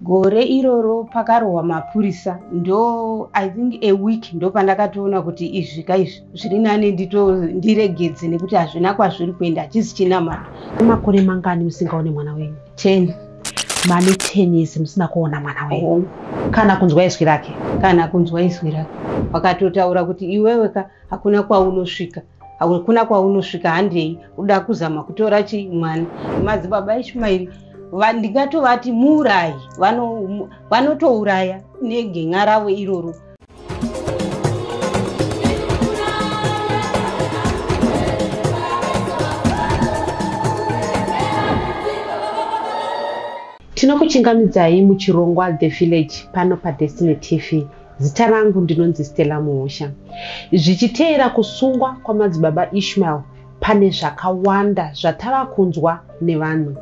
Gore iroro pakarohwa mapurisa ndo I think a week ndo pandakatoona kuti izvi ka izvi zviri nani ndito ndiregedze nekuti hazvina kwazviri kuenda hachisi chinamato. Makore mangani musingaone mwana wenyu? 10. Mane 10 years musina kuona mwana wenyu? Oh. Kana kunzwa izwi rake? Kana kunzwa izwi rake. Wakatotaura kuti iwewe ka hakuna kwaunosvika. hakuna kwaunosvika handei uda kuzama kutora chi mwana madzibaba ishumairi ndingatovati muurayi vanotouraya negen'a ravo iroro tinokuchingamidzai muchirongwa the village pano padestiny tv Zita rangu ndinonzi Stella Muhosha. Zvichiteera kusungwa kwamadzibaba Ishmael pane zvakawanda zvatava kunzwa nevanhu.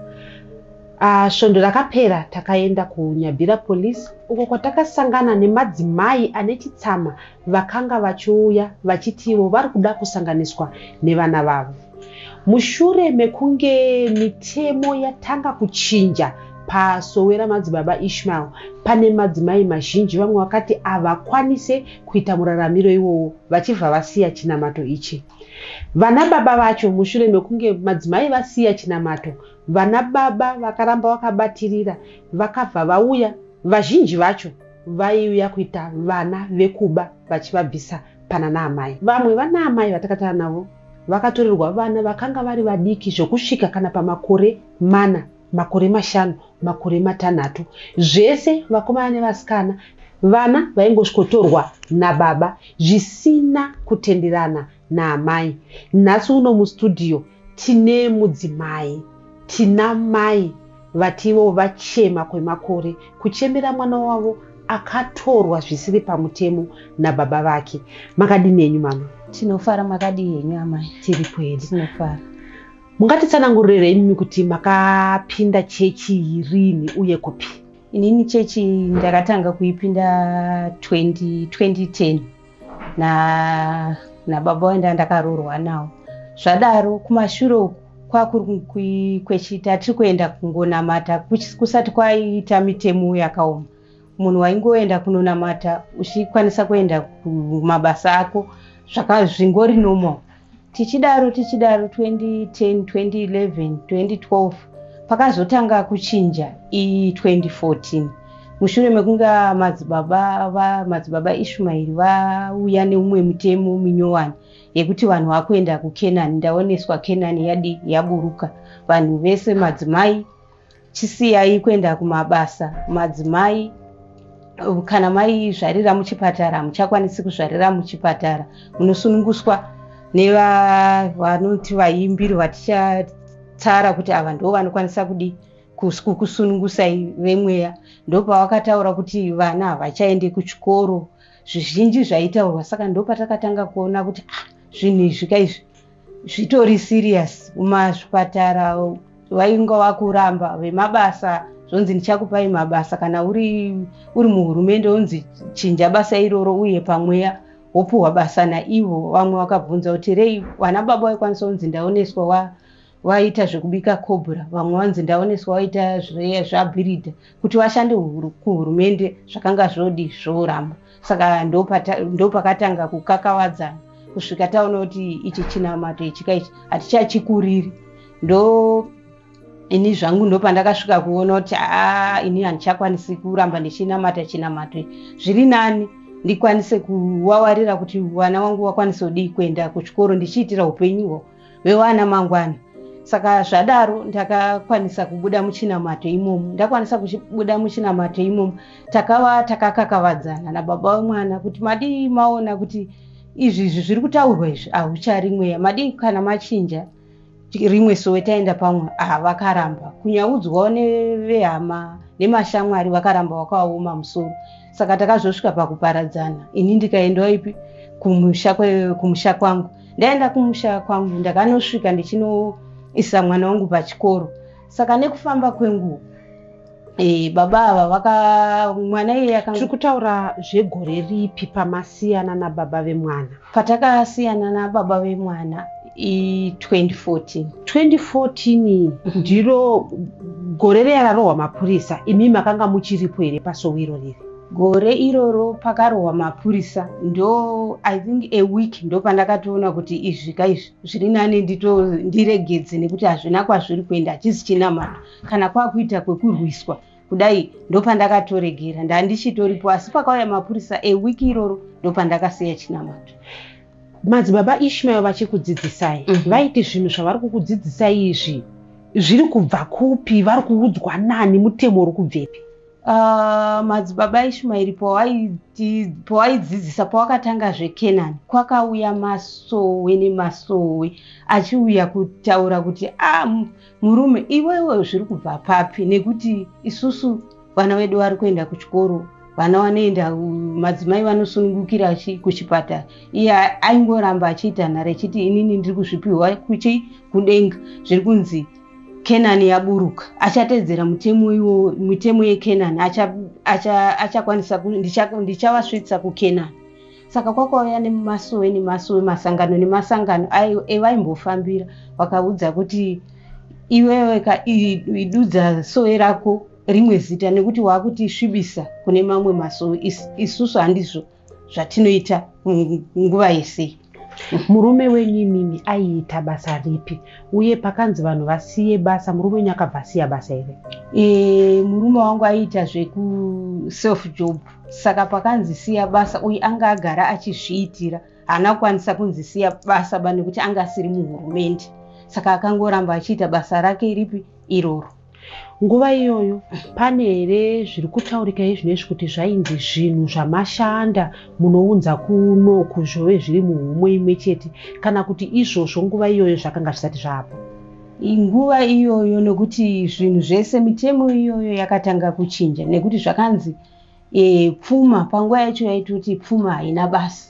Uh, svondo rakapera takaenda kuNyabira Police uko kwatakasangana nemadzimai ane chitsama vakanga vachiuya vachitiwo vari kuda kusanganiswa nevana vavo. Mushure mekunge mitemo yatanga kuchinja pasowe ramadzibaba Ishmael, pane madzimai mazhinji vamwe vakati havakwanise kuita muraramiro iwowo vachibva vasiya chinamato ichi. Vanababa vacho, mushure mekunge madzimai vasiya chinamato, vanababa vakaramba vakabatirira vakabva vauya, vazhinji vacho vaiuya kuita vana vekuba vachivabvisa pananaamai. Vamwe vanaamai vatakataura navo Vakatorerwa vana vakanga vari vadiki zvokusvika kana pamakore mana, makore mashanu, makore matanhatu, zvese vakomana nevasikana. Vana vaingosvikotorwa nababa zvisina kutenderana naamai. Nhasi uno mustudio tine mudzimai, tina mai Vatiwo vachema kwemakore kuchemera mwana wavo akatorwa zvisiri pamutemo nababa vake. Makadini henyu mama? Tinofara. Makadii henyu amai? Tiri pwere. Tinofara. Mungatitsanangurire imimi kuti makapinda chechi rini uye kupi? Inini chechi ndakatanga kuipinda 20, 2010. na nababa waenda ndakaroorwa nawo zvadaro kumashure uku kwakuri kwechita tiri kuenda kungonamata kusati kwaita mitemo yakaoma munhu waingoenda kunonamata uchikwanisa kuenda kumabasa ako zvaka zvingori normal tichidaro tichidaro 2010 2011 2012 pakazotanga kuchinja iyi 2014 mushure mekunge madzibaba madzibaba ishumairi vauya neumwe mutemo minyowani yekuti vanhu vakuenda kukenani ndaoneswa kenani yadi yaburuka vanhu vese madzimai chisiyai kuenda kumabasa madzimai kana maizvarira muchipatara hamuchakwanisi kuzvarira muchipatara munosununguswa nevanoti vaimbiri vatichatsara kuti ava ndo vanokwanisa kudii kukusunungusai vemweya ndopavakataura kuti vana havachaende kuchikoro zvizhinji zvaitaurwa saka ndopatakatanga kuona kuti ah, zvinhu izvi ka izvi zvitori serious kumazvipatara vainga vakuramba vemabasa zvonzi ndichakupai mabasa kana uri uri muhurumende wonzi chinja basa iroro uye pamweya wopuhwa basa naivo vamwe vakabvunza kuti rei vana baba vaikwanisa kunzi ndaoneswa wa vaita zvekubika cobra vamwe vanzi ndaoneswa vaita zvabhiridha kuti vashande kuhurumende zvakanga zvodi zvoramba saka ndopakatanga kukakavadzana kusvika taona kuti ichi chinamato ichika ichi hatichachikuriri ndo ini zvangu ndopandakasvika kuona kuti aa ini handichakwanisi kuramba ndichinamata chinamato zviri nani ndikwanise kuwawarira kuti vana wangu wakwanise kudii kuenda kuchikoro ndichiitira upenyu hwao vewana mangwana saka zvadaro ndakakwanisa kubuda muchinamato imomo ndakwanisa kubuda muchinamato imomo takava takakakavadzana nababa vemwana kuti madii maona kuti izvi izvi zviri kutaurwa izvi ahuchari mweya madii kana machinja rimwe sowe taenda pamwe ah vakaramba kunyaudzwawo nevehama nemashamwari vakaramba wakaoma musoro saka takazosvika pakuparadzana ini ndikaendawo ipi kumusha kwangu ndaenda kumusha kwangu ndakanosvika ndichinoisa mwana wangu pachikoro saka nekufamba kwenguva e, baba ava vaka mwana iye yaka tiri kutaura zvegore ripi pamasiyana nababa vemwana patakasiyana nababa vemwana i 2014 2014 ndiro gore reyararohwa mapurisa imi makanga muchiripo here pasowiro riri Gore iroro pakarohwa mapurisa ndo I think a week ndo pandakatoona kuti izvi ka izvi zviri nane ndito ndiregedze nekuti hazvina kwazviri kuenda hachizi chinamata kana kwakuita kwekurwiswa kudai ndopandakatoregera ndandichitoripo asi pakauya mapurisa a week iroro ndopandakasiya chinamato madzibaba ishmael vachikudzidzisai mm -hmm. vaiti zvinhu zvavari kukudzidzisai izvi zviri kubva kupi vari kuudzwa nani mutemo uri kubvepi Uh, madzibaba ishumairi pawaidzidzisa pawakatanga zvekenani kwakauya masowe nemasowe achiuya kutaura kuti a ah, murume iwewe zviri kubva papi nekuti isusu vana vedu vari kuenda kuchikoro vana vanoenda madzimai vanosunungukira kuchipatara iye aingoramba achiita nhare achiti inini ndiri kuzvipiwa kuchi kudenga zviri kunzi kenani yaburuka achatedzera mutemo iwo mitemo yekenani achakwanisa ndichavasvitsa kukenani saka kwakauya nemasowe nemasowe masangano nemasangano evaimbofambira vakaudza kuti iwewe ka idudza sowe rako rimwe zita nekuti waakutisvibisa kune mamwe masowe isusu handizvo zvatinoita nguva yese murume wenyu imimi aiita basa ripi uye pakanzi vanhu vasiye basa murume wenyu akabva asiya basa here e, murume wangu aiita zvekuself job saka pakanzi siya basa uye anga agara achizviitira haana kukwanisa kunzi siya basa ba nekuti anga asiri muhurumende saka akangoramba achiita basa rake ripi iroro nguva iyoyo pane here zviri kutaurika izvinezvi kuti zvainzi zvinhu zvamashanda munounza kuno kuzvove zviri muhumwe imwe chete kana kuti izvozvo nguva iyoyo zvakanga zvisati zvaapo nguva iyoyo nekuti zvinhu zvese mitemo iyoyo yakatanga kuchinja nekuti zvakanzi e, pfuma panguva yacho yaitoti pfuma haina basa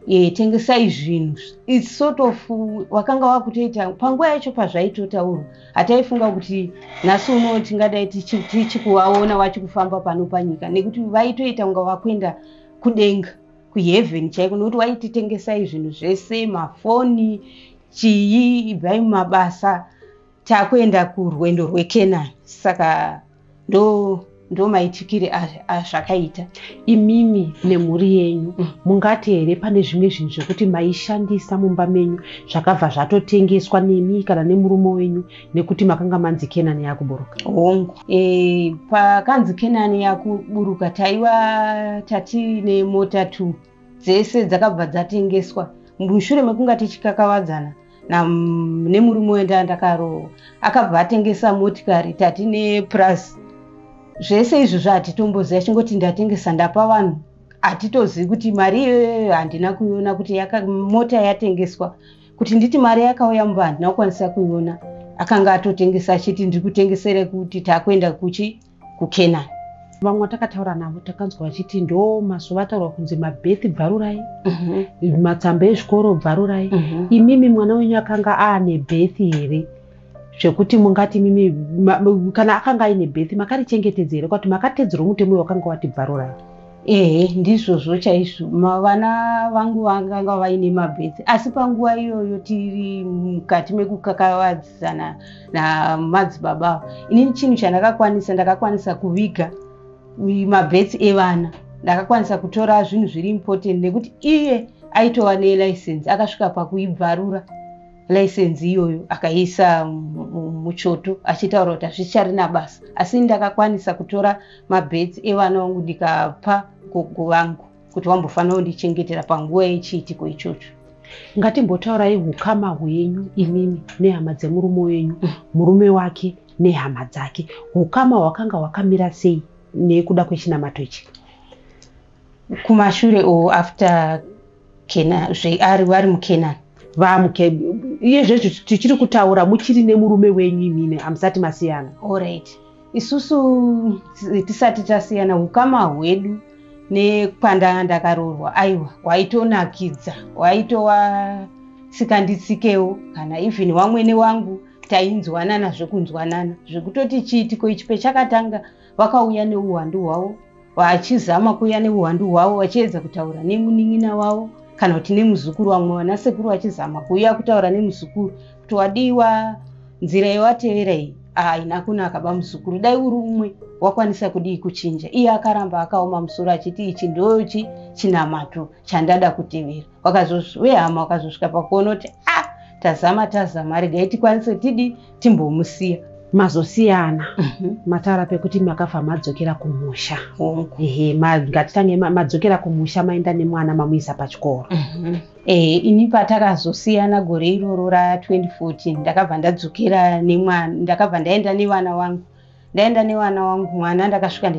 e, tengesai zvinhu its sort of wakanga wakutoita panguva yacho pazvaitotaurwa hataifunga kuti nhasi uno tingadai tichikuvaona wachikufamba pano panyika nekuti vaitoita kunga vakuenda kudenga kuheaven chaiko nokuti waititengesai zvinhu zvese mafoni chii ibvai mumabasa takuenda kurwendo rwekenani saka ndo ndo maitikire azvakaita imimi nemhuri yenyu mm. mungati here pane zvimwe zvinhu zvekuti maishandisa mumba menyu zvakabva zvatotengeswa nemi kana nemurume wenyu nekuti makanga manzi kenani yakuburuka hongu e, pakanzi kenani yakuburuka taiva tati nemota two dzese dzakabva dzatengeswa mushure mekunga tichikakavadzana nemurume wenda ndakarohwa akabva atengesa motikari tati nepurazi zvese izvi zvaatitomboziva chingoti ndatengesa ndapa vanhu hatitozivi kuti mari iyoyo handina kuiona kuti mota yatengeswa kuti nditi mari yakauya mumba handina kukwanisa kuiona akanga atotengesa achiti ndiri kutengesere kuti takuenda kuchi kukenani vamwe vatakataura navo takanzwa vachiti ndo mazuva ataurwa kunzi mabhethi bvarurai mhm. matsamba ezvikoro bvarurai mhm. imimi mwana wenyu akanga aane bhethi here zvekuti mungati mimi kana akanga aine bhethi makarichengetedza here kwati makatedzerwa mutemo wakanga wati bvarurai ehe ndizvozvo chaizvo vana vangu vakanga vaine mabhethi asi panguva iyoyo tiri mukati mekukakavadza zana namadzibaba avo inini chinhu chandakakwanisa ndakakwanisa kuviga mabhets evana ndakakwanisa kutora zvinhu zviri important nekuti iye aitova nelicense akasvika pakuibvarura license iyoyo akaiisa muchoto achitaura kuti hazvicharina basa asi ndakakwanisa kutora mabhets evana vangu ndikapa gogo vangu kuti wambofanira kundichengetera panguva yechiitiko ichocho ngatimbotaurai ukama hwenyu imimi nehama dzemurume wenyu mm. murume wake nehama dzake ukama hwakanga hwakamira sei nekuda kwechinamato ichi kumashure o after kena zveari vari mukenani vamuke iye zvezvo tichiri kutaura muchiri nemurume wenyu imimi hamusati masiyana allright isusu tisati tasiyana ukama hwedu nekwandanga ndakaroorwa aiwa hwaitonakidza hwaitova sikanditsikewo kana even wamwene wangu tainzwanana zvekunzwanana zvekutoti chiitiko ichi pechakatanga vakauya neuwandu hwavo vachizama kuuya nehuwandu hwavo vachiedza kutaura nemunin'ina wavo kana kuti nemuzukuru vamwe vanasekuru vachizama kuuya kutaura nemuzukuru kuti wadiwa nzira yewatevera iyi haina kunaka bamuzukuru dai uri umwe wakwanisa kudii kuchinja iye akaramba akaoma musoro achiti ichi ndochi chinamato chandada kutevera wehama wakazosvika pakuona kuti a ah, tazama tazama regai tikwanise tidi timbomusiya mazosiyana mhm. matara pekuti makafa madzokera kumusha ehe ngatitange madzokera kumusha maenda nemwana mamuisa pachikoro mhm. ehe ini patakazosiyana gore iroro ra 2014 ndakabva ndadzokera nemwana ndakabva ndaenda nevana wangu ndaenda nevana wangu mwana ndakasvika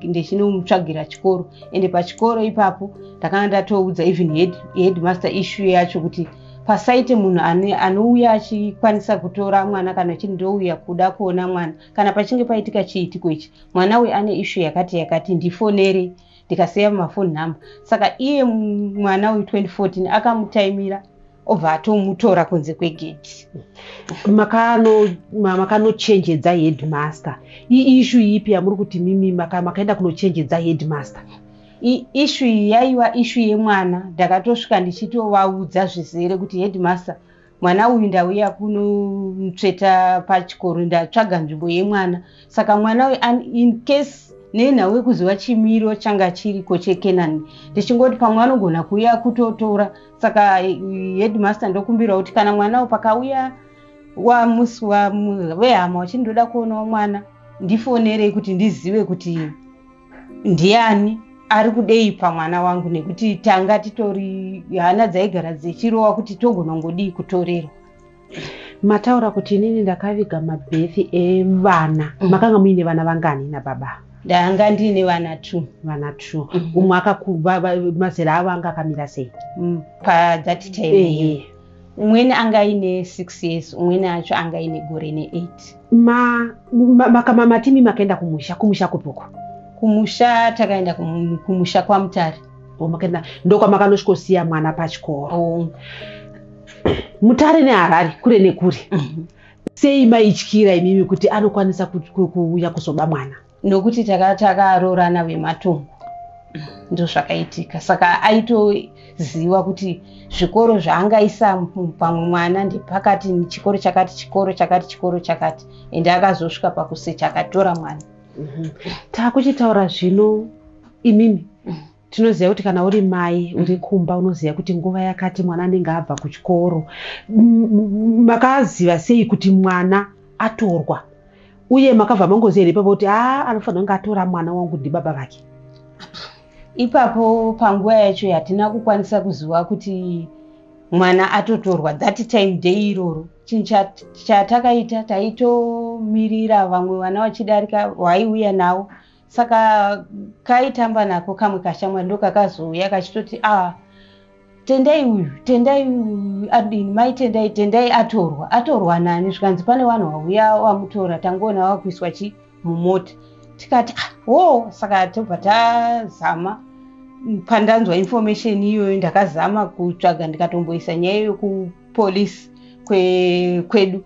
ndichinomutsvagira chikoro ende pachikoro ipapo ndakanga ndatoudza even headmaster issue yacho kuti pasaite munhu anouya achikwanisa kutora mwana kana chii ndouya kuda kuona mwana kana pachinge paitika chiitiko ichi mwana uyu ane issue yakati yakati ndifonere ndikaseva mafoni number saka iye mwana uyu 2014 akamutaimira obva atomutora kunze kwegedhi makanochenjedza makano headmaster iishu ipi yamuri kuti mimi makaenda maka kunochenjedza headmaster ishu iyi yaiva ishu yemwana ndakatosvika ndichitovaudza zvizere kuti headmaster mwana uyu ndauya kunomutsveta pachikoro ndatsvaga nzvimbo yemwana saka mwana uyu in case nenhau yekuziva chimiro changa chiriko chekenani ndichingoti pamwe anogona kuuya kutotora saka headmaster ndokumbirwa kuti kana mwana wo pakauya wamusi vehama wachiti ndoda kuonawo mwana ndifonerei kuti ndizive kuti ndiani ari kudei pamwana wangu nekuti tanga titori hana dzaigara dzechirova kuti togonongodii kutorerwa mataura kuti inini ndakaviga mabhethi evana mm. makanga muine vana vangani nababa ndanga ndiine vana two vana two mm. umwe akamazera avo anga akamira sei mm. pathat time eh. umweni anga aine six years umweni acho anga aine gore neeight makamama ma, ma, timi makaenda kumusha kumusha kupoko kumusha takaenda kumusha kwamutare wamakaenda ndokwamakanosvikosiya mwana pachikoro oh. mutare neharare kure nekure mhm. sei maityira imimi kuti anokwanisa kuuya kuzoba mwana nokuti takaroorana vematongo ndozvakaitika saka aitoziva kuti zvikoro zvaangaisa pamwe mwana ndepakati chikoro chakati chikoro chakati chikoro chakati ende akazosvika pakusecha akatora mwana Mhm. takuchitaura zvino imimi Mhm. tinoziva kuti kana uri mai uri kumba unoziva kuti nguva yakati mwana anenge abva kuchikoro M- m- makaziva sei kuti mwana atorwa uye makabva mangoziva here ipapo kuti a anofanira kunge atora mwana wangu ndibaba vake ipapo panguva yacho hatina kukwanisa kuziva kuti mwana atotorwa that time day iroro chinhu chatakaita taitomirira vamwe vana vachidarika vaiuya nawo saka kaitamba nako kamwe kashamwari ndokakazouya kachitoti a ah, tendai uyu tendai adini mai tendai tendai atorwa atorwa nani zvikanzi pane vanhu vauya vamutora tangoona vakuiswa chii mumota tikati ah, hoo saka tobva tazama pandanzwa information iyoyo ndakazama kutsvaga ndikatomboisa nyaya iyo kupolice kwe, kwedu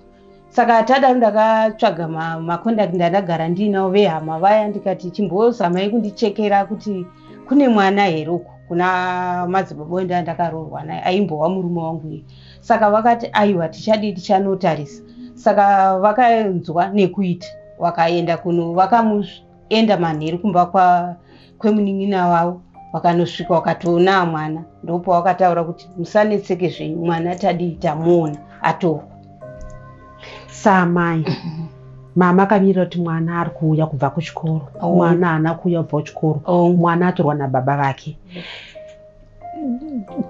saka tadaro ndakatsvaga maconduct ma ndandagara ndiinawo vehama vaya ndikati chimbozamai kundichekera kuti kune mwana here uku kuna madzibaba wenda ndakaroorwa naye aimbova murume wangu iye saka vakati aiwa tichadii tichanotarisa saka vakanzwa nekuita vakaenda kuno vakamuenda manheru kumba kwa kwemunin'ina wavo vakanosvika vakatoona mwana ndopo vakataura kuti musanetseke zvenyu mwana tadii tamuona atorwa samai mama akamira kuti mwana ari kuuya kubva kuchikoro oh. mwana haana kuuya kubva kuchikoro oh. mwana atorwa nababa vake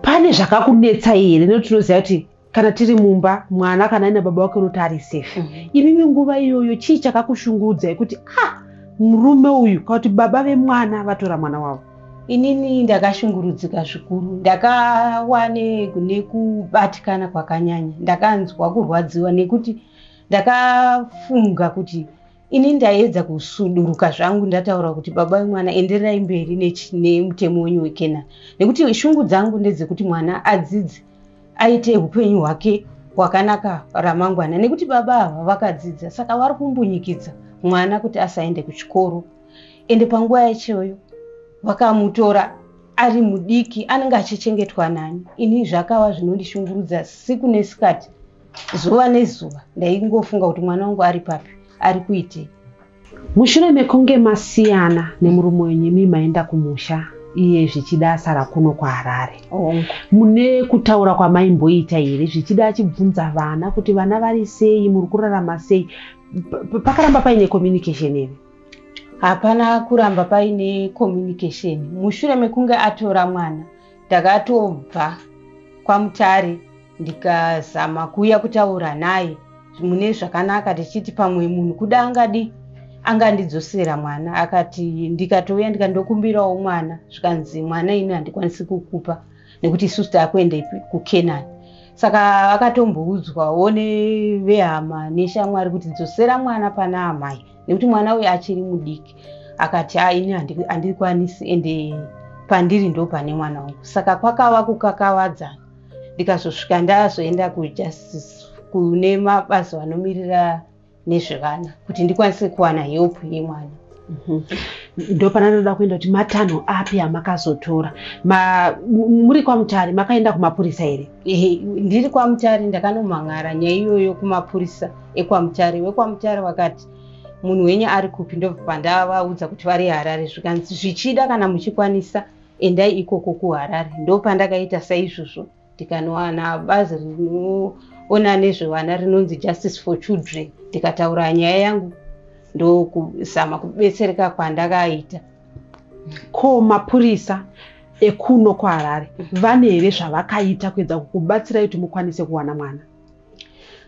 pane zvakakunetsa here nekuti tinoziva kuti kana tiri mumba mwana kana aina baba wake unoti ari safe mhm. imimi nguva iyoyo chii chakakushungudza yekuti a ah, murume uyu kana kuti baba vemwana vatora mwana wavo inini ndakashungurudzika zvikuru ndakawane kune kubatikana kwakanyanya ndakanzwa kurwadziwa nekuti ndakafunga kuti ini ndaiedza kusuduruka zvangu ndataura kuti baba vemwana endererai mberi nemutemo wenyu wekenani nekuti shungu dzangu ndedzekuti mwana adzidze aite upenyu hwake hwakanaka ramangwana nekuti baba ava vakadzidza saka vari kumbunyikidza mwana kuti asaende kuchikoro ende panguva yachoyo vakamutora ari mudiki anenge achichengetwa nani ini zvakava zvinondishungurudza siku nesikati zuva nezuva ndaingofunga kuti mwana wangu ari papi ari kuitei mushure mekunge masiyana nemurume wenyu imi maenda kumusha iye zvichida asara kuno kuharare mune kutaura kwamaimboita here zvichida achibvunza vana kuti vana vari sei muri kurarama sei pakaramba paine communication here hapana kuramba paine communication mushure mekunge atora mwana ndakatobva kwamutare ndikazama kuuya kutaura naye mune zvakanaka tichiti pamwe munhu kuda angadi angandidzosera mwana akati ndikatouya ndikandokumbirawo mwana zvikanzi mwana ini handikwanisi kukupa nekuti isusu taakuenda kucanani saka akatomboudzwawo nevehama neshamwari kuti dzosera mwana pana amai nekuti mwana uyu achiri mudiki akati ha ini handikwanisi ende pandiri ndo pane mwana wangu saka kwakava kukakavadzana ndikazosvika ndazoenda kujustice kune mabazi vanomirira nezvevana kuti ndikwanise kuwana help yemwana mhm. ndopana ndoda kuenda kuti matanho api amakazotora muri kwamutari makaenda kumapurisa here ndiri kwamutari ndakanomhan'ara nyaya iyoyo kumapurisa ekwaMutare wekwaMutare wakati munhu wenyu ari kupi ndobva pandavaudza kuti vari harare zvikanzi zvichida kana muchikwanisa endai ikoko kuharare ndopandakaita saizvozvo ndikanowana bazi rinoona nezvevana rinonzi justice for children ndikataura nyaya yangu ndokuzama kubetsereka kwandakaita ko mapurisa ekuno kuharare vane here zvavakaita kuedza kukubatsirai kuti mukwanise kuwana mwana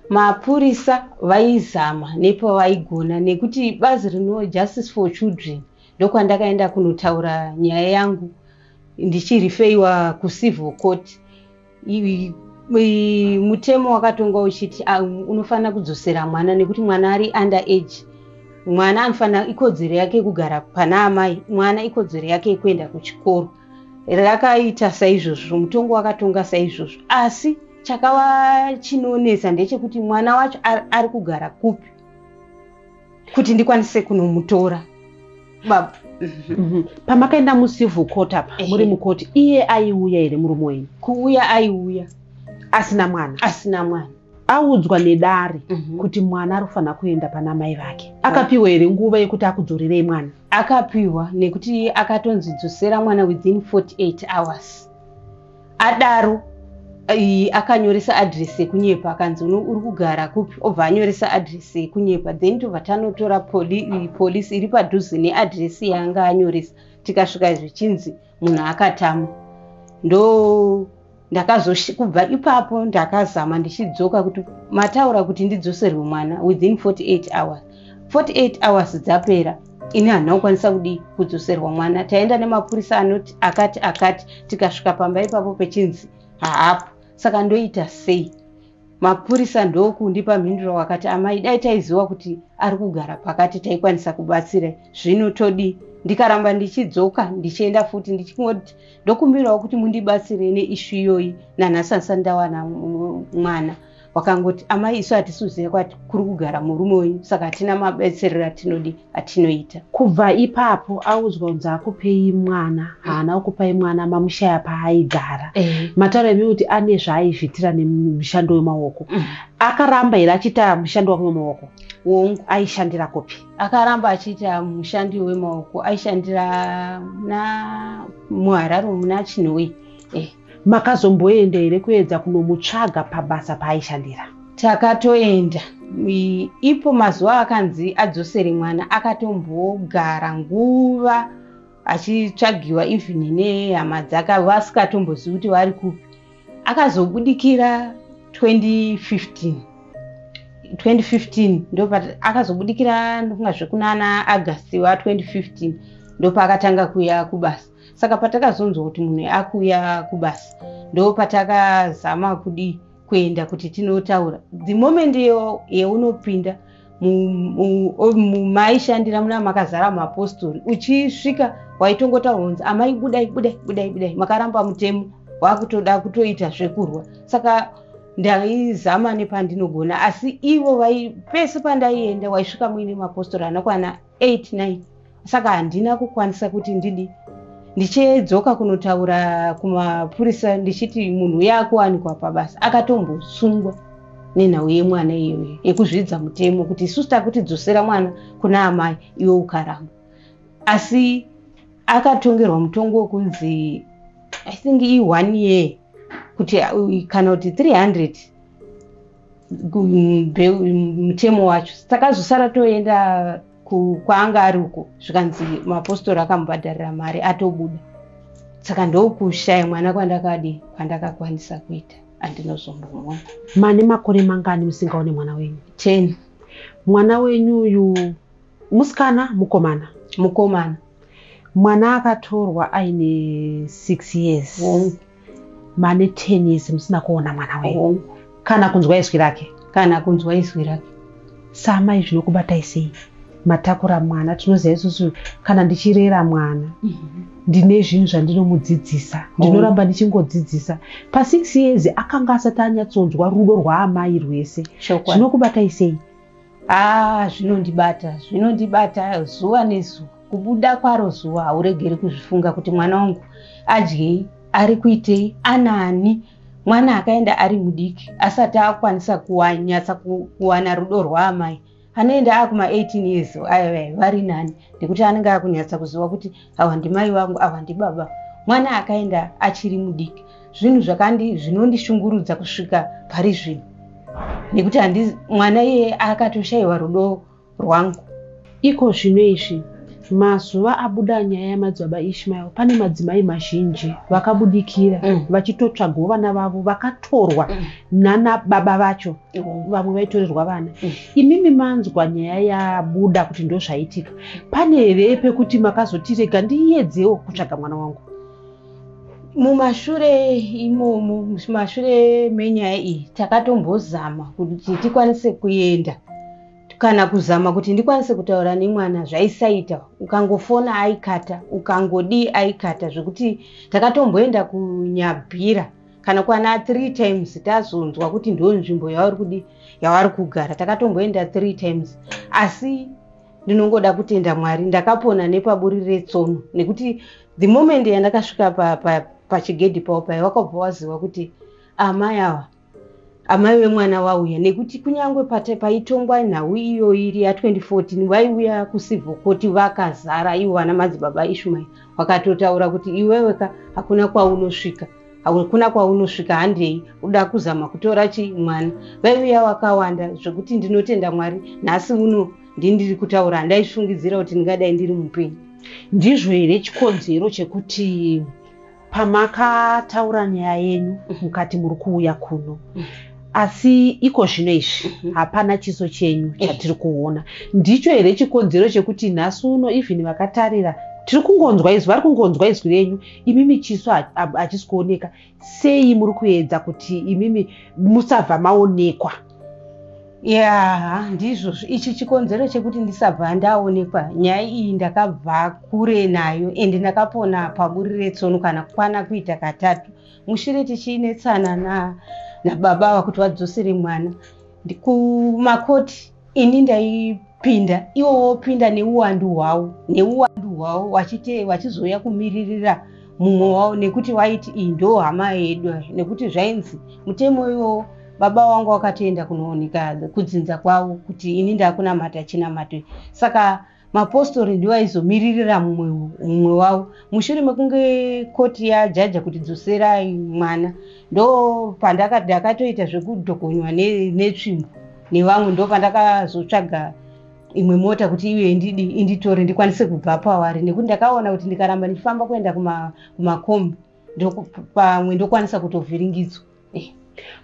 Mapurisa vaizama nepavaigona nekuti bazi rino Justice for Children ndokwandakaenda kunotaura nyaya yangu ndichirifeiwa kucivil court mutemo wakatonga uchiti ah, unofanira kudzosera mwana nekuti mwana ari under age mwana anofanira ikodzero yake yekugara pana amai mwana ikodzero yake yekuenda kuchikoro rakaita saizvozvo mutongo wakatonga saizvozvo asi chakava chinonetsa ndechekuti mwana wacho ari kugara kupi kuti ndikwanise kunomutora baba mhm. pamakaenda mucivil court apa muri mukoti iye aiuya here murume wenyu kuuya aiuya asina mwana asina mwana audzwa nedare Mhm. kuti mwana ari kufanira kuenda pana mai vake akapiwa here nguva yekuti akudzorerei mwana akapiwa nekuti akatonzi dzosera mwana within 48 hours adaro i- akanyoresa adress yekunyepa akanzi "Uno- uri kugara kupi obva anyoresa adress yekunyepa then tobva tanotora poli- i- police iri padhuze neadress yaanga anyoresa tikasvika zvichinzi munhu akatama ndo ndakazokubva ipapo ndakazama ndichidzoka kuti mataura kuti ndidzoserwe mwana within 48 hours 48 hours dzapera ini handina kukwanisa kudii kudzoserwa mwana taenda nemapurisa anoti akati akati tikasvika pamba ipapo pechinzi haapo saka ndoita sei mapurisa ndokundipa mhinduro wakati amai dai taiziva kuti ari kugara pakati taikwanisa kubatsira zvino todi ndikaramba ndichidzoka ndichienda futi ndichingoti ndokumbirawo kuti mundibatsire neishu iyoyi nanhasansa ndawana mwana wakangoti amai isu hatisi kuziva kwati kuri kugara murume wenyu saka hatina mabetserero atinodii atinoita kubva ipapo audzwa kunzi akupei mwana haana kukupai mwana mamushaya paaigara eh. mataura imi kuti ane zvaaizvitira nemushando wemaoko mm. akaramba here achiita mushando wake wemaoko wongu aishandira kupi akaramba achiita mushandi wemaoko aishandira muna muharare muna chinhoi eh. Makazomboenda here kuedza kunomutsvaga pabasa paaishandira? Takatoenda. Ipo mazuva akanzi adzosere mwana akatombogara nguva achitsvagiwa even nehama dzake vasingatombozivi kuti vari kupi. Akazobudikira 2015. 2015 ndopa akazobudikira ndofunga zvekunana August wa 2015 ndopaakatanga kuuya kubasa. saka patakazonzwa kuti munhu akuuya kubasa ndo patakazama kudii kuenda kuti tinotaura the moment yeunopinda mumaishandira muna makazara muapostori uchisvika waitongotaura kunzi amai budai budai budai budai makaramba mutemo wakutoda kutoita zvekurwa saka ndaizama nepandinogona asi ivo vai pese pandaienda waisvika muine mapostori anokwana 8 9 saka handina kukwanisa kuti ndidi ndichidzoka kunotaura kumapurisa ndichiti munhu uye akuwanikwa pabasa akatombosungwa nenhau yemwana iyoyo yekuzvidza mutemo kuti isusu takutidzosera mwana kuna amai iwe ukaramba asi akatongerwa mutongo wekunzi i think i one year kuti uh, kana kuti 300 mutemo wacho takazosara toenda kwaanga ari uko zvikanzi mapostori akamubhadharira mari atobuda saka ndokushaya mwana kwandakadi kwandakakwanisa kuita andinozombomona mane makore mangani musingaone mwana wenyu ten mwana wenyu uyu musikana mukomana mukomana mwana akatorwa aine six years mm. mane 10 years musina kuona mwana wenyu oh. kana kunzwa izwi rake kana kunzwa izwi rake samai zvinokubatai sei matakura mwana tinoziva isusu kana ndichirera mwana mhm. ndine zvinhu zvandinomudzidzisa oh. ndinoramba ndichingodzidzisa pasix years akanga asati anyatsonzwa rudo rwaamai rwese zvinokubatai sei Haa zvinondibata zvinondibata zuva nezuva kubuda kwaro zuva hauregeri kuzvifunga kuti mwana wangu adyei ari kuitei anaani mwana akaenda ari mudiki asati akwanisa kunyatsa kuwana rudo rwaamai anoenda akuma 18 years aya vari nani nekuti anenge akunyatsa kuziva kuti awa ndimai vangu awa ndibaba mwana akaenda achiri mudiki zvinhu zvakandi zvinondishungurudza kusvika pari zvino nekuti handi mwana iye akatoshayiwa rudo rwangu iko zvino izvi mazuva abuda nyaya yamadzibaba ishmael pane madzimai mazhinji vakabudikira mm. vachitotsvagawo vana vavo vakatorwa mm. nana baba vacho vamwe vaitorerwa vana mm. imimi manzwa nyaya yabuda kuti ndozvaitika pane here pekuti makazotirega ndiyedzewo kutsvaga mwana wangu mumashure imomo mumashure menyaya iyi takatombozama kuti tikwanise kuenda kana kuzama kuti ndikwanise kutaura nemwana zvaisaita ukangofona aikata ukangodii aikata zvekuti takatomboenda kunyabhira kana kwana three times tazonzwa kuti ndo nzvimbo yavari kudi yavari kugara takatomboenda three times asi ndinongoda kutenda mwari ndakapona nepaburi retsono nekuti the moment yandakasvika pachigedhi pa, pa, pao paye wakabva waziva kuti amai awa amai vemwana vauya nekuti kunyange paitongwa nhau iyoyi iri ya 2014 vaiuya kusivhokoti vakazara ivo vana madzibaba ishumairi vakatotaura kuti iweweka hakuna kwaunosvika hakuna kwaunosvika handei uda kuzama kutora chi mwana vaiuya wakawanda zvekuti ndinotenda mwari nhasi uno ndindiri kutaura handaifungidzira kuti ndingadai ndiri mupenyu ndizvo here chikonzero chekuti pamakataura nyaya yenyu mhm. mukati muri kuuya kuno mhm. asi iko zvino izvi mhm. hapana chiso chenyu eh. chatiri kuona ndicho here chikonzero chekuti nhasi uno even vakatarira tiri kungonzwa izwi vari kungonzwa izwi renyu imimi chiso hachisi kuoneka sei muri kuedza kuti imimi musabva maonekwa ya ndizvo ichi chikonzero chekuti ndisabva ndaonekwa nyaya iyi ndakabva kure nayo ende ndakapona paburi retsono kana kukwana kuita katatu mushure tichiinetsana nababa na vakuti vadzosere mwana kumakoti ini ndaipinda iwo wopinda neuwandu hwawo neuwandu hwawo wachite wachizouya kumiririra mumwe wawo nekuti waiti iyi ndo hama yedu nekuti zvainzi mutemo iwowo baba wangu wakatoenda kunooneka kudzinza kwavo kuti ini ndakunamata chinamato saka Mapostori ndiwo aizomiririra mumwe mumwe wavo. Mushure mekunge koti yajaja kuti dzoserai mwana, ndo pandaka- ndakatoita zvekudhokonywa ne- netsvimbo nevamwe, ndo pandakazotsvaga imwe mota kuti iuye indidi inditore ndikwanise kubva pavari nekuti ndakaona kuti ndikaramba ndichifamba kuenda kuma- kumakombi ndoku- pamwe ndokwanisa kutovhiringidzwa. Eh,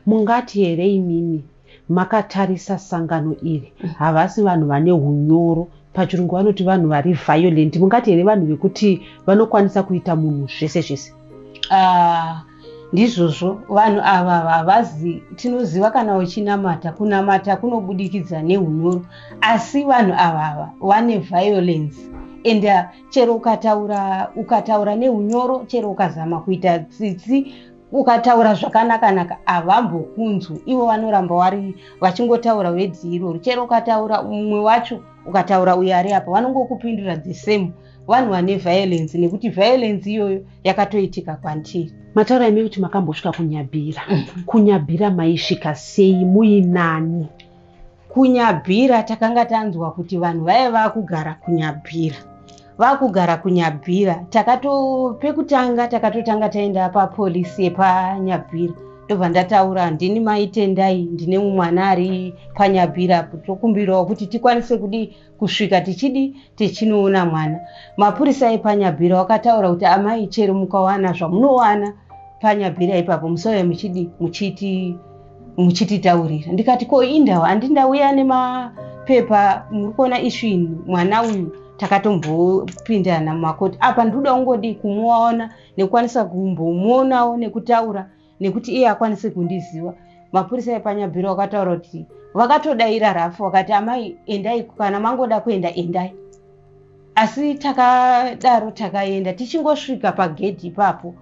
mungati here imimi makatarisa sangano iri mm. havasi vanhu vane unyoro pachirungu vanoti vanhu vari violent mungati here vanhu vekuti vanokwanisa kuita munhu zvese zvese uh, ndizvozvo vanhu ava havazi tinoziva kana uchinamata kunamata kunobudikidza neunyoro asi vanhu ava ava vane violence and uh, chero ukataura ukataura neunyoro chero ukazama kuita tsitsi ukataura zvakanakanaka havambokunzwi ivo vanoramba wari vachingotaura wedzi irori chero ukataura mumwe wacho ukataura uyo ari apa vanongokupindura the same vanhu vane violence nekuti violence iyoyo yakatoitika kwandiri mataura imi kuti makambosvika kunyabhira mm. kunyabhira maisvika sei muinani kunyabhira takanga tanzwa kuti vanhu vaive vakugara kunyabhira vakugara kunyabhira takato pekutanga takatotanga taenda papolisi yepanyabhira ndobva ndataura ndini maitendai ndine mumwana ari panyabhira tokumbirawo kuti tikwanise kudii kusvika tichidi tichinoona mwana mapurisa epanyabhira wakataura kuti amai chero mukawana zvamunowana panyabhira ipapo musauya muchidi muchiti muchititaurira ndikati ko indau andi ndauya nemapepa muri kuona ishu ini mwana uyu takatombopindana mumakoti apa ndikuda kungodi kumuona nekukwanisa kumbomuonawo nekutaura nekuti iye akwanise kundiziva mapurisa epanyabhiro vakataura kuti vakatodaira rafu vakati amai endai kana mangoda kuenda endai asi takadaro takaenda tichingosvika pagedhi ipapo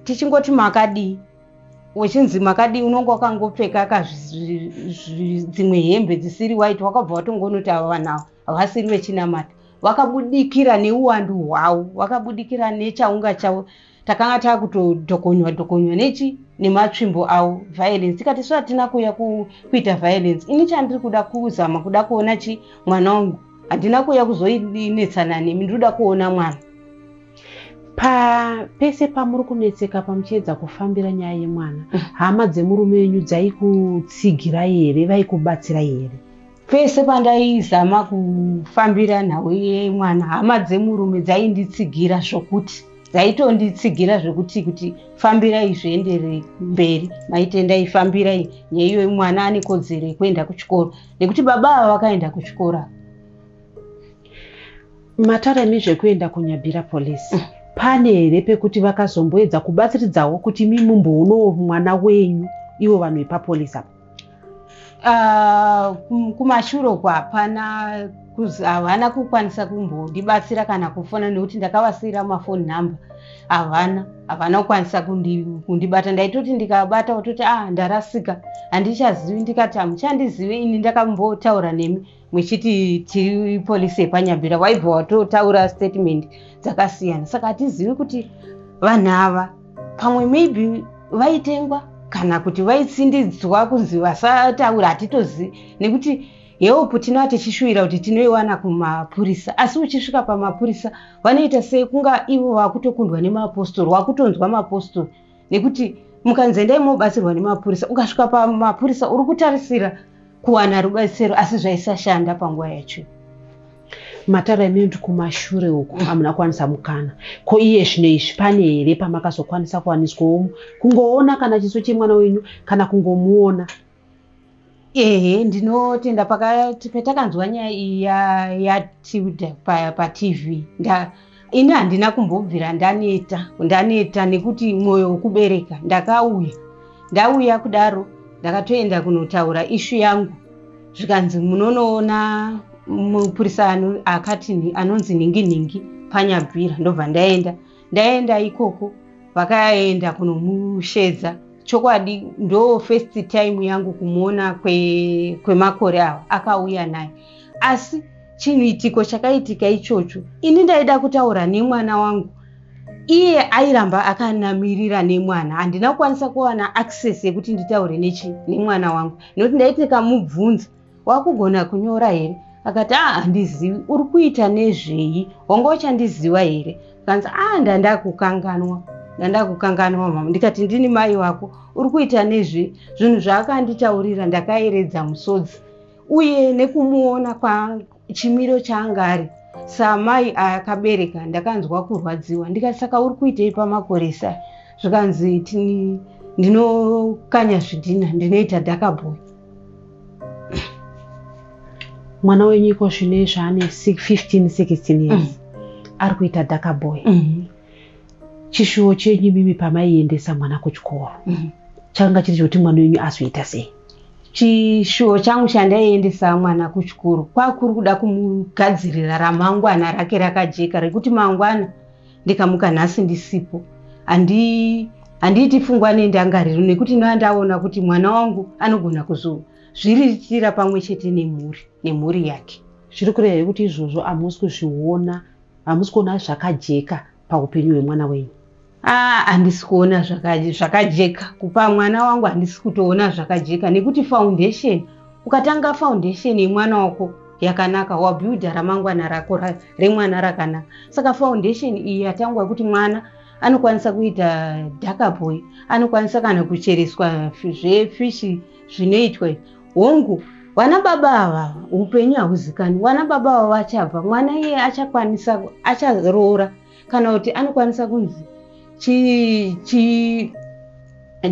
tichingoti makadii wechinzi makadii unonge wakangopfeka ka dzimwe hembe dzisiri white wakabva watongonoti ava vanhu ava havasiri vechinamata vakabudikira neuwandu hwavo vakabudikira nechaunga chavo takanga takutodhokonywa dhokonywa nechi nematsvimbo awo violence tikati so hatina kuuya kuita violence ini chandiri kuda kuzama kuda kuona chi mwana wangu handina kuuya kuzoinetsana nemi ndiri kuda kuona mwana pa pese pamuri kunetseka pamuchiedza kufambira nyaya yemwana mm. hama dzemurume wenyu dzaikutsigirai here vaikubatsirai here Pese pandaizama kufambira nhau yemwana hama dzemurume dzainditsigira zvokuti dzaitonditsigira zvekuti kuti fambirai zviendere mberi maitendai fambirai nyaiyo mwana ane kodzero yekuenda kuchikoro nekuti baba ava vakaenda kuchikoro mataremi zvekuenda kunyabira polisi mm. pane here pekuti vakazomboedza kubatsiridzawo kuti mimumboonoo mwana wenyu ivo vanhu vepapolisi apa Ah, kum- kumashure uko hapana kuz- havana kukwanisa kumbondibatsira kana kufona nekuti ndakavasiira mafoni number havana havana kukwanisa kundi- kundibata ndaitoti ndikabata kutoti ah ndarasika handichazivi ndikati hamuchandizive ini ndakambotaura nemi muchiti tiri polisi yepanyambira waibva watotaura statement dzakasiyana saka hatizivi kuti vanhu ava pamwe maybe vaitengwa kana kuti vaitsindidzwa kunzi vasataura hatitozivi nekuti heopu tinova tichishuvira kuti tinoiwana kumapurisa asi uchisvika pamapurisa vanoita sei kunga ivo vakutokundwa nemaapostori wakutonzwa maapostori nekuti mukanzi endai mobatsirwa nemapurisa ukasvika pamapurisa uri kutarisira kuwana rubatsiro asi zvaisashanda panguva yacho matara imene ndi kumashure uku mm. amuna kwanisa mukana ko iye zvino izvi pane here pamakazokwanisa kuwaniswa omu kungoona kana chiso chemwana wenyu kana kungomuona ehe ndinotenda patakanzwa nyaya iyi yatilda patv ini handina kumbobvira ndaneta ndaneta nekuti mwoyo wekubereka ndakauya ndauya kudaro ndakatoenda kunotaura ishu yangu zvikanzi munonoona mupurisa akati anonzi nhingi nhingi panyabvira ndobva ndaenda ndaenda ikoko vakaenda kunomushedza chokwadi ndo first time yangu kumuona kwemakore kwe awa akauya naye asi chiitiko chakaitika ichocho ini ndaida kutaura nemwana wangu iye airamba akanamirira nemwana handina kukwanisa kuwana access yekuti nditaure nechi nemwana wangu nekuti ndaiti kamubvunza wakugona kunyora here akati a ah, handizivi uri kuita nezvei wanga uchandiziva here kanzi a ah, ndandakukanganwa ndandakukanganwa mama ndikati ndini mai wako uri kuita nezve zvinhu zvaakanditaurira ndakaeredza musodzi uye nekumuona chimiro chaanga ari saamai akabereka ndakanzwa kurwadziwa ndikati saka uri kuitei pamakoresa zvikanzi ndinokanya zvidhina ndinoita dakaboy mwana wenyu iko zvino izvaane 15 16 years mm. ari kuita dakaboy mm -hmm. chishuwo chenyu imimi pamaiendesa mwana kuchikoro mm. chakanga chiri chokuti mwana wenyu azoita sei chishuwo changu chandaiendesa mwana kuchikoro kwakuri kuda kumugadzirira ramangwana rake rakajeka rekuti mangwana ndikamuka nhasi ndisipo handi handiiti fungwa nendangariro nekuti ndoa ndaona kuti mwana wangu anogona kuzozviriritira pamwe chete nemhuri nemhuri yake zviri kureva yekuti izvozvo amusi kuzviona hamusi kuona zvakajeka paupenyu hwemwana wenyu ah, handisi kuona zvakajeka kupa mwana wangu handisi kutoona zvakajeka nekuti foundation ukatanga foundation yemwana wako yakanaka wabuilda ramangwana rako remwana rakanaka saka foundation iyi yatangwa yekuti mwana anokwanisa kuita dakaboy anokwanisa kana kuchereswa zvefishi zvinoitwa hongu vana baba ava upenyu hahuzikani vana baba ava vachabva mwana iye achakwanisa acharoora kana kuti anokwanisa kunzi chi, chi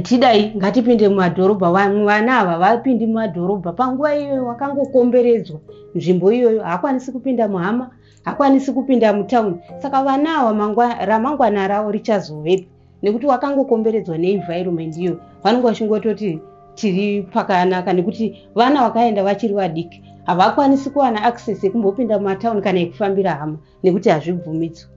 tidai ngatipinde mumadhorobha vamwe vana ava vapindi mumadhorobha panguva iyoyo wakangokomberedzwa nzvimbo iyoyo haakwanisi kupinda muhama hakwanisi kupinda mutauni saka vana ava ramangwana ravo richazovepi nekuti wakangokomberedzwa neenvironment iyo vanenge vachingototi tiri pakanaka nekuti vana vakaenda vachiri vadiki havakwanisi kuwana access yekumbopinda mumatown kana yekufambira hama nekuti hazvibvumidzwa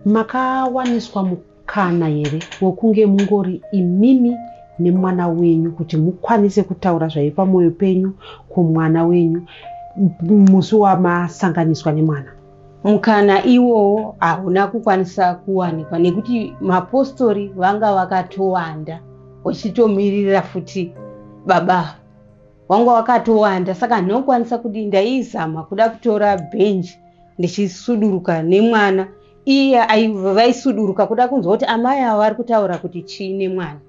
makawaniswa mukana here wekunge mungori imimi nemwana wenyu kuti mukwanise kutaura zvaive pamwoyo penyu kumwana wenyu musi wamasanganiswa nemwana mukana iwowo hauna kukwanisa kuwanikwa nekuti mapostori vanga vakatowanda vachitomirira futi baba wanga wakatowanda saka ndinokwanisa kuti ndaizama kuda kutora benji ndichisuduruka nemwana iye vaisuduruka kuda kunzwa kuti amai avo vari kutaura kuti chii nemwana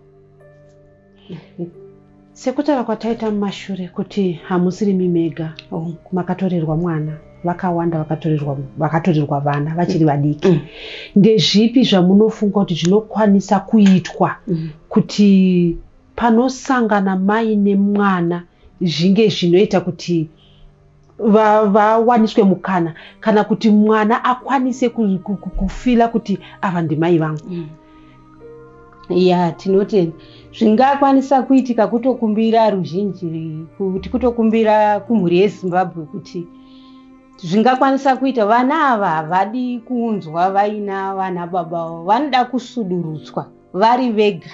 sekutaura kwataita mumashure kuti hamusirimi mega oh. makatorerwa mwana vakawanda vakatorerwa vakatorerwa vana vachiri vadiki mm. ndezvipi zvamunofunga kuti zvinokwanisa kuitwa mm. kuti panosangana mai nemwana zvinge zvinoita kuti vawaniswe mukana kana kuti mwana akwanise kufila kuti ava ndimai vangu mm. ya tinotenda zvingakwanisa kuitika kutokumbira ruzhinji kuti kutokumbira kumhuri yezimbabwe kuti zvingakwanisa kuita vana ava havadi kuunzwa vaina vana baba vavo vanoda kusudurutswa vari vega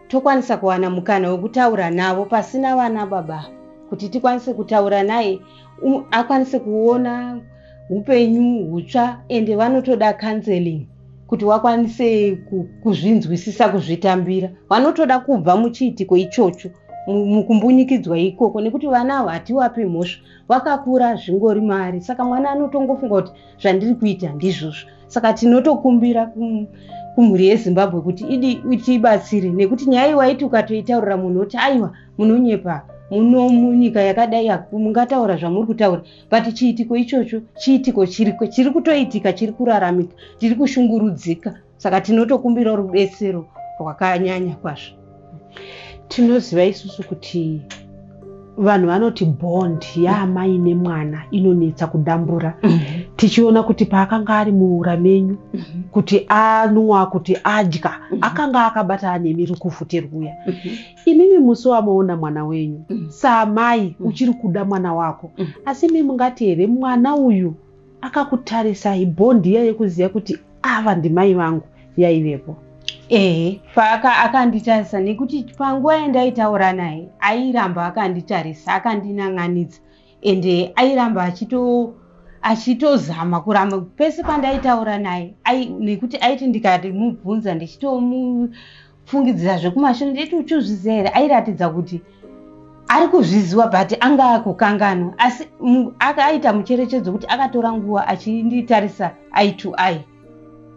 tokwanisa kuwana mukana wekutaura navo pasina vana baba kuti tikwanise kutaura naye um, akwanise kuona upenyu hutsva ende vanotoda counseling kuti wakwanise kuzvinzwisisa kuzvitambira vanotoda kubva muchiitiko ichocho mukumbunyikidzwa ikoko nekuti vana avo hatiwapi mhosva vakakura zvingori mari saka mwana anotongofunga kuti zvandiri kuita ndizvozvo saka tinotokumbira kum, kumhuri yezimbabwe kuti idi tiibatsire nekuti nyaya iwaiti ukatoitaurira munhu woti aiwa munonyepa muno munyika yakadai mungataura zvamuri kutaura but chiitiko ichocho chiitiko chiriko chiri kutoitika chiri kuraramika tiri kushungurudzika saka tinotokumbirawo rubetsero rwakanyanya kwazvo tinoziva isusu kuti vanhu vanoti bond yaamai nemwana inonetsa kudambura tichiona kuti paakanga ari muura menyu kuti anwa kuti adya akanga akabata anemi rukufuti rwuya imimi musi wamoona mwana wenyu saamai uchiri kuda mwana wako asi imi mungati here mwana uyu Akakutarisai bond iya yekuziva kuti ava ndimai vangu yaivepo. Ehe, Faka akanditarisa nekuti panguva yandaitaura naye airamba akanditarisa akandinan'anidza ende airamba achito achitozama kuramba pese pandaitaura naye nekuti aiti ndikamubvunza ndichitomu fungidzira zvekumashure nditi uchizviziva here airatidza kuti ari kuzviziva but anga akukanganwa asi akaita mucherechedzo kuti akatora nguva achinditarisa eye to eye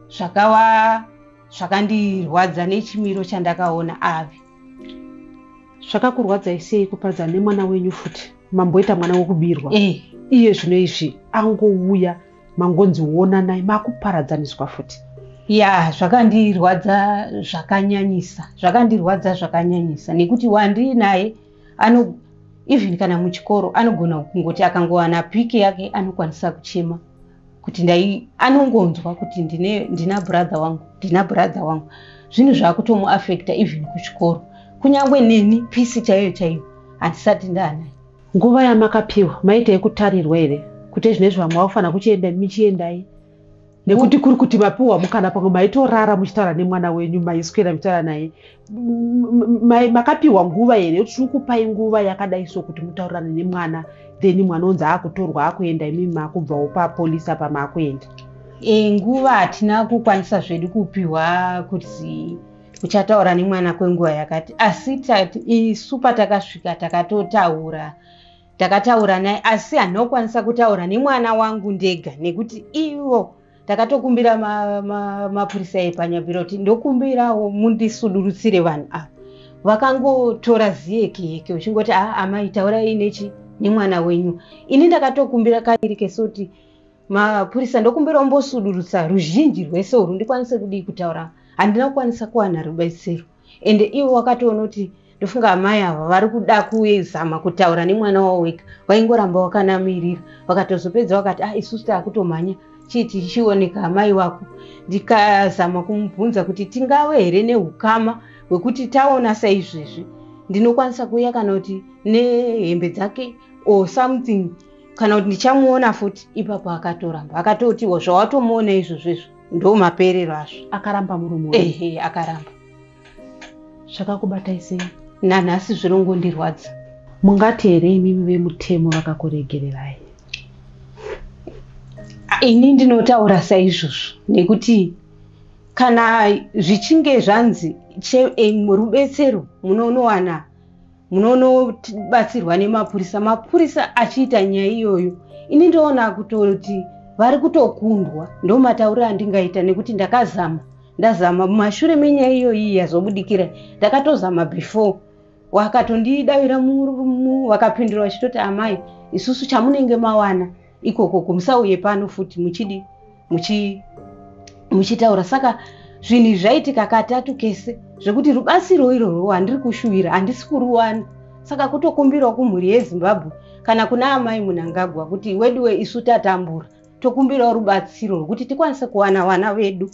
zvakava zvakandirwadza nechimiro chandakaona ave zvakakurwadzai sei kupadza nemwana wenyu futi mamboita mwana wekubirwa eh. iye zvino izvi angouya mangonzi wonanai makuparadzaniswa futi ya zvakandirwadza zvakanyanyisa zvakandirwadza zvakanyanyisa nekuti wandii naye ano even kana muchikoro anogona kungoti akangowana piki yake anokwanisa kuchema kuti ndai anongonzwa kuti ndine ndina brother wangu ndina brother wangu zvinhu zvakutomuafecta even kuchikoro kunyange neni pisi chaiyo chaiyo handisati ndaanaye Nguva yamakapiwa maita yekutarirwa here kuti ezvinezvi vamwe vakufanira kuchienda imi chiendai nekuti kuri kuti mapiwa mukana pamwe maitorara muchitaura nemwana wenyu maiswera muchitaura naye makapiwa nguva here kuti tiri kupai nguva yakadai so kuti mutaurirane nemwana then mwana onzi akutorwa akuenda imi makubvawo papolisi apa makuenda e, nguva hatina kukwanisa zvedu kupiwa kuti uchataura nemwana kwenguva yakati asi isu patakasvika takatotaura takataura naye asi handina kukwanisa kutaura nemwana wangu ndega nekuti ivo takatokumbira mapurisa ma, ma epanyabhira kuti ndokumbirawo mundisudurutsire vanhu ava vakangotora ziyeke yeke uchingoti a ah, amai taurai nechi nemwana wenyu ini ndakatokumbira kairi kesoti mapurisa ndokumbira umbosudurutsa ruzhinji rwese urwu ndikwanise kudii kutaura handina kukwanisa kuwana rubatsiro ende ivo wakatoona kuti ndofunga amai ava vari kuda kuzama kutaura nemwana wavo wega waingoramba wakanamirira vakatozopedza vakati ah isusu taakutomhanya chii tichioneka amai wako ndikazama kumubvunza kuti tingave here neukama hwekuti taona saizvezvi ndinokwanisa kuuya kana kuti nehembe dzake or something kana kuti ndichamuona futi ipapo akatoramba akatotiwo zvawatomuona izvozvo izvo ndo maperero azvo akaramba murume ehe akaramba zvakakubatai sei nanhasi zvirongondirwadza mungati here imimi vemutemo vakakuregererai ini ndinotaura saizvozvo nekuti kana zvichinge zvanzi rubetsero munounowana munonobatsirwa nemapurisa mapurisa achiita nyaya iyoyo ini ndoona kutoti vari kutokundwa ndo matauriro andingaita nekuti ndakazama ndazama mumashure menyaya iyoyi yazobudikira ndakatozama before wakatondidavira murumu wakapindura vachitoti amai isusu chamunenge mawana ikoko kumusauye pano futi muchidi muchitaura saka zvinhu izvi zvaitika katatu kese zvekuti rubatsiro irorwo handiri kushuvira handisi kuruwana saka kutokumbirawo kumhuri yezimbabwe kana kuna amai munangagwa kuti weduwe isu tatambura tokumbirawo rubatsiro rwekuti tikwanise kuwana vana vedu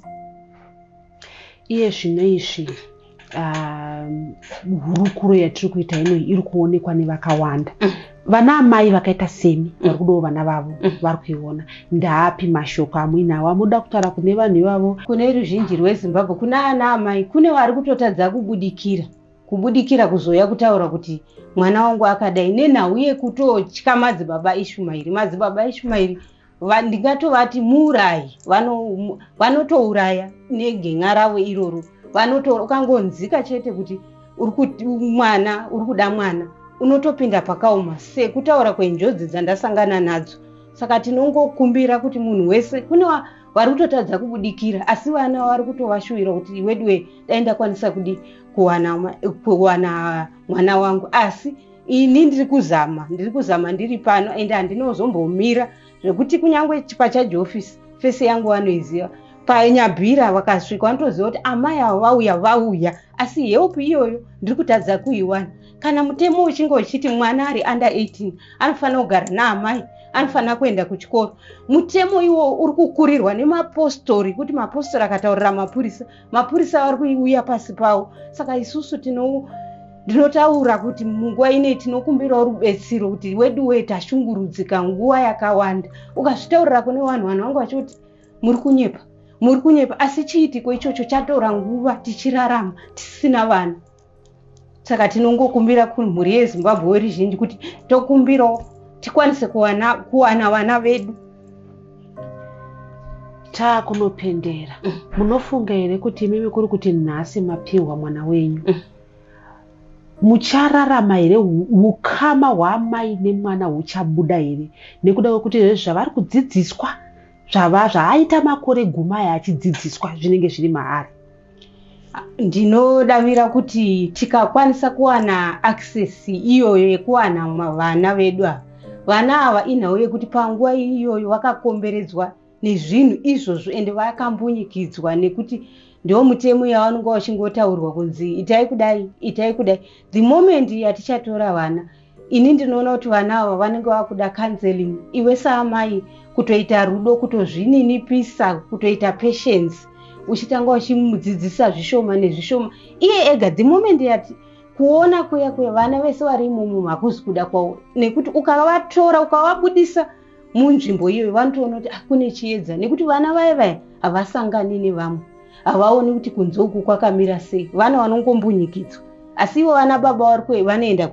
iye zvino izvi um, hurukuro yatiri kuita ino iri kuonekwa nevakawanda mm. vana amai vakaita semi mm. vari kudawo vana vavo mm. vari kuiona ndaapi mashoko amuinawo amuda kutaura kune vanhu ivavo kune ruzhinji rwezimbabwe kune ana amai kune vari kutotadza kubudikira kubudikira kuzouya kutaura kuti mwana wangu akadai nenhau yekutotya madzibaba ishumairi madzibaba ishumairi ndingatovati muurayi vanotouraya negen'a ravo iroro vanotoura ukangonzika chete kuti mwana uri kuda mwana unotopinda pakaoma sekutaura kwenjodzi dzandasangana nadzo saka tinongokumbira kuti munhu wese kune vari kutotadza kubudikira asi vana vari kutovashuvira kuti weduwe dai ndakwanisa kudi kuwana mwana wangu asi ini ndiri kuzama ndiri kuzama ndiri pano and handinozombomira zvekuti kunyange pachaji office fese yangu vanoiziva panyabhira vakasvika vanotoziva kuti amai avo vauya vauya asi help iyoyo ndiri kutadza kuiwana kana mutemo uchinge uchiti mwana ari under 18 anofanira kugara naamai anofanira kuenda kuchikoro mutemo iwo uri kukurirwa nemapostori kuti mapostori akataurira mapurisa mapurisa vari kuiuya pasi pavo saka isusu tino ndinotaura kuti munguva inei tinokumbirawo rubetsero kuti wedu wee tashungurudzika nguva yakawanda ukazvitaurira kune vanhu vanhu vangu vachoti muri kunyepa muri kunyepa asi chiitiko ichocho chatora nguva tichirarama tisina vanhu saka tinongokumbira kumhuri yezimbabwe weri zhinji kuti tokumbirawo tikwanise kuwana kuwana vana vedu taakunopendera mm. munofunga here kuti imimi kuri kuti nhasi mapihwa mwana wenyu mm. muchararama here ukama hwaamai nemwana huchabuda here nekuda kwekuti zve zvavari kudzidziswa zvava zvaaita makore gumai achidzidziswa zvinenge zviri maari ndinodavira kuti tikakwanisa kuwana access iyoyo yekuwana vana vedu ava vana ava inhau yekuti panguva iyoyo vakakomberedzwa nezvinhu izvozvo ende vakambunyikidzwa nekuti ndiwo mutemo yavanonga vachingotaurwa kunzi itai kudai itai kudai the moment yatichatora vana ini ndinoona kuti vana ava vanenge vakuda counseling iwe saamai kutoita rudo kutozvininipisa kutoita patience uchitanga uchimudzidzisa zvishoma nezvishoma iye ega the moment yati kuona kuya kuya vana vese vari imomo hakuzi kuda kwavo nekuti ukavatora ukavabudisa munzvimbo iyoyo vanotoona kuti ah, kune chiedza nekuti vana vaye vaye havasangani nevamwe havaoni kuti kunze uku kwakamira sei vana vanongombunyikidzwa asi ivo vana baba vari kuve vanoenda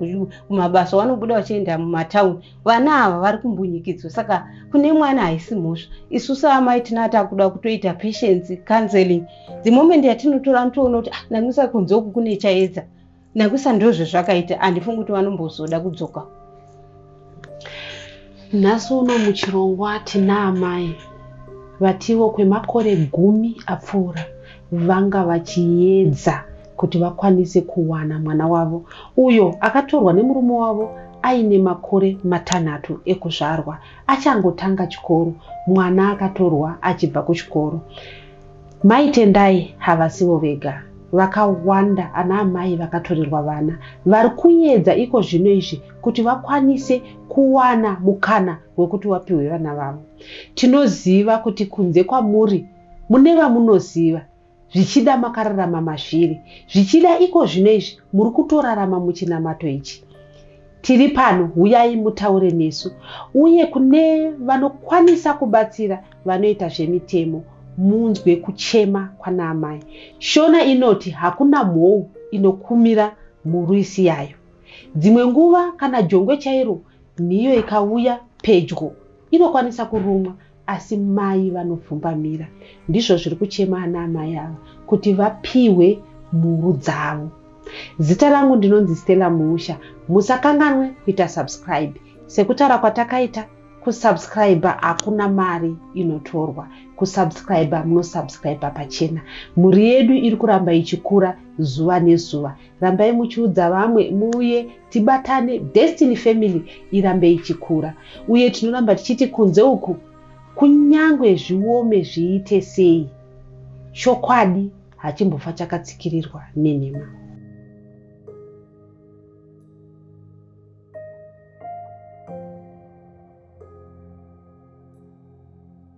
kumabasa vanobuda vachienda mumatauni vana ava vari kumbunyikidzwa saka kune mwana haisi mhosva isu saamai tinaa takuda kutoita patience counseling the moment yatinotora nitoona kuti ah, namisa kunze uku kune chaedza nakusa ndozvezvakaita handifungi kuti vanombozoda kudzoka nhasi uno muchirongwa tina amai vatiwo kwemakore gumi apfuura vanga vachiedza kuti vakwanise kuwana mwana wavo uyo akatorwa nemurume wavo aine makore matanhatu ekuzvarwa achangotanga chikoro mwana akatorwa achibva kuchikoro Mai Tendai havasivo vega, vakawanda ana amai vakatorerwa vana vari kuedza iko zvino izvi kuti vakwanise kuwana mukana wekuti wapihwe vana vavo. Tinoziva kuti kunze kwamuri mune vamunoziva, zvichida makararama mazviri, zvichida iko zvino izvi muri kutorarama muchinamato ichi. Tiri pano, huyai mutaure nesu uye kune vanokwanisa kubatsira vanoita zvemitemo munzwe kuchema kwanaamai. Shona inoti hakuna mhou inokumira murwisi yayo. Dzimwe nguva kana jongwe chairo nhiyo ikauya pedyo inokwanisa kurumwa Asi mai vanopfumbamira ndizvo zviri kuchema ana amai ava kuti vapihwe mhuru dzavo. Zita rangu ndinonzi Stella Muusha. Musakanganwe kuita subscribe. Sekutaura kwatakaita kusubscriber hakuna mari inotorwa kusubscriber munosubscriber pachena mhuri yedu iri kuramba ichikura zuva nezuva rambai muchiudza vamwe muuye tibatane destiny family irambe ichikura uye tinoramba tichiti kunze uku kunyange zviome zviite sei chokwadi hachimbofa chakatsikirirwa nenhema